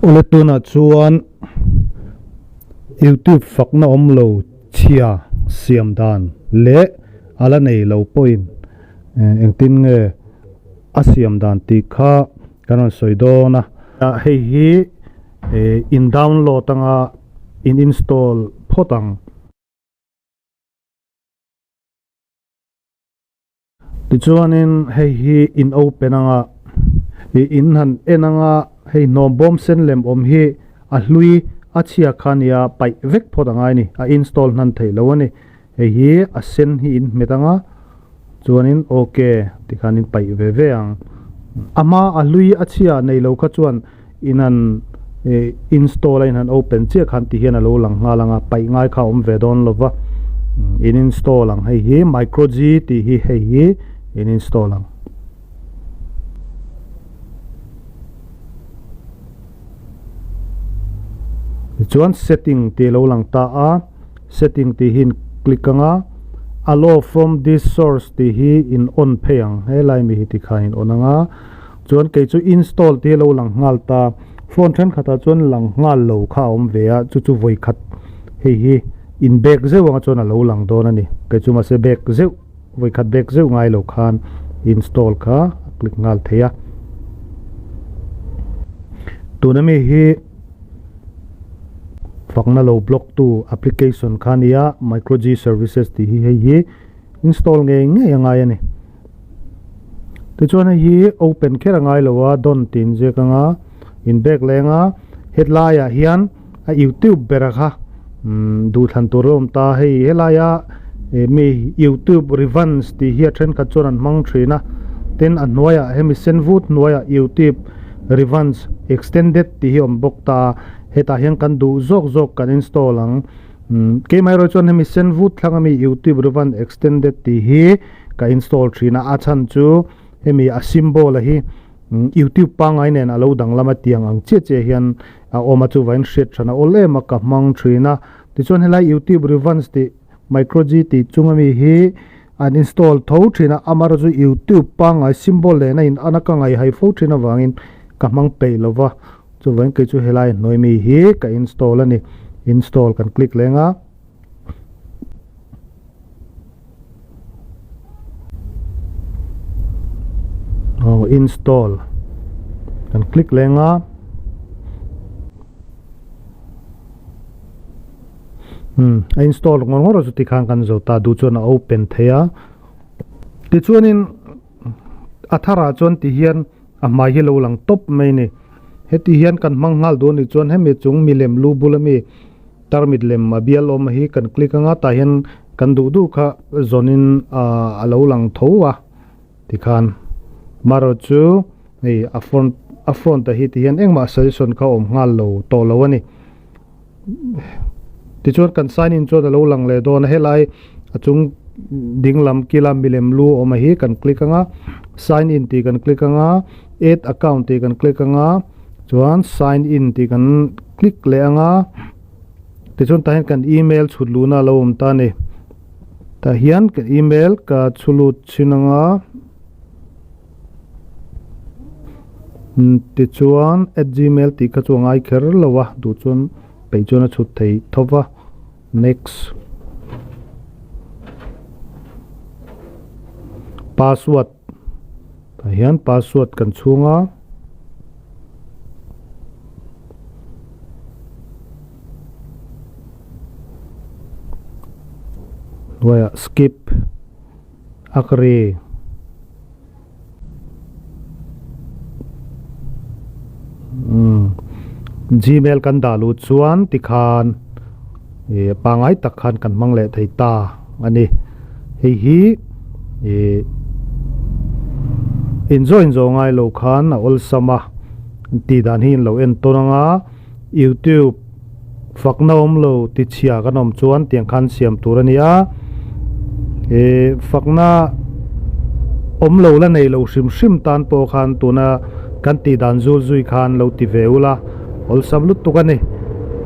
U le tunah chuan youtube fakna awm lo chhia siam dan leh a la nei lo pawhin engtin nge a siam dan tih kha kan rawn sawi dawn a. Hei hi in download anga in install phawt ang. Tichuanin hei hi in open anga ih in han en anga hei hnawm bawm sen lem awm hi a hlui a chhiak kha nia paih vek phawt angai ni a install hnan theih lo a ni hei hi a sen hi in hmet anga chuanin ok tikhanin paih ve ve ang a hma a hlui a chhia nei lo kha chuan in han install a in han open chiah khan tih hian a lo lang nghal ang a paih ngai kha a awm ve dawn lo va in install ang hei hi micro g tih hi hei hi in install ang. chuan setting tih a lo lang ta a setting tih hi in click ang a allow from this source tih hi in on phei ang helai mi hi tikhan in on ang a Chuan kei chu install te lo lang nghal ta, phone thenkhatah chuan lang nghal lo kha a awm ve a, chu chu vawi khat hei hi in bag zeuh anga chuan a lo lang dawn a ni. Kei chu mahse bag zeuh vawi khat bag zeuh ngai lo khan install kha a click nghal thei a. Tuna mi hi fakna lo block tu application kha a ni a, micro G services tih hi hei hi install ngei ngei a ngai a ni. Tichuan hei hi open kher a ngai lo a dawn tih inziak anga in bag leng a hetlaiah hian a iu teuh ber a kha umm duhthlan tur alawm ta hei helaia eh mi iu teuh revans tih hi a thenkhat chuan an hmang thin a tin a hnuaiah hemi sen vut hnuaiah iu teuh revans extended tih hi awm bawk ta hetah hian kan duh zawk zawk kan install ang umm keimaherawhchu hemi sen vut thlanga mi iu teuh revans extended tih hi-- ka install thin a, a chhan chu hemi a symbol a hi youtube pangai nen a lo danglam a tiang ang chiah chiah hian a awm a chuva in hriat than a awl em a ka hmang thin a, tichuan helai youtube revans tih micro G tih chung a mi hi an install tho thin a, amara chu youtube pangai symbol nen a in an a ka ngaihai fo thin avangin ka hmang peih lo va, chuvain kei chu helai hnuai mi hi ka install a ni, install kan click leng a. aw install kan click leng a umm a install ngawr ngawr a chu tikhan kan zir ta duh chuan a open theih a tichuanin a tharah chuan tihian-- A hmai hi lo lang tawp mai a ni. Heti hian kan hmang nghal duh a nih chuan hemi chung milem lu bul ami tarmit lem a bial awm hi kan click anga tah hian kan duh duh kha zawn in a lo lang tho a ti khan amaherawh chu hei a front a front a hi ti hian engmah suggestion kha awm nghal lo tawh lo a ni. Tichuan kan sign in chuan a lo lang leh dawn a helai a chung ding lam kila milem lu awm a hi kan click anga sign in tih kan click anga add account tih kan click anga chuan sign in tih kan click leh anga tichuan tah hian kan email chhut luhna a lo awm ta a ni tah hian ka email ka chhu lut chin anga. Tichuan at gmail tih kha chu a ngai kher lo a duh chuan peih chuan a chhut thei tho va next password tah hian password kan chhung a hnuaiah skip. Akri Gmail kan dah luh chuan tikhan ih pangai tak khan kan hmang leh thei ta a ni hei hi ih inzawh inzawh ngai lo khan a awlsam a tih dan hi in lo en tawn ang a. YouTube fakna awmlo tichhia kan awm chuan tiang khan siam tur a nia ihh fakna awmlo la nei lo hrim hrim tan pawh khan tuna kan tih dan zul zui khan lo ti ve ula awlsam lutuk a ni.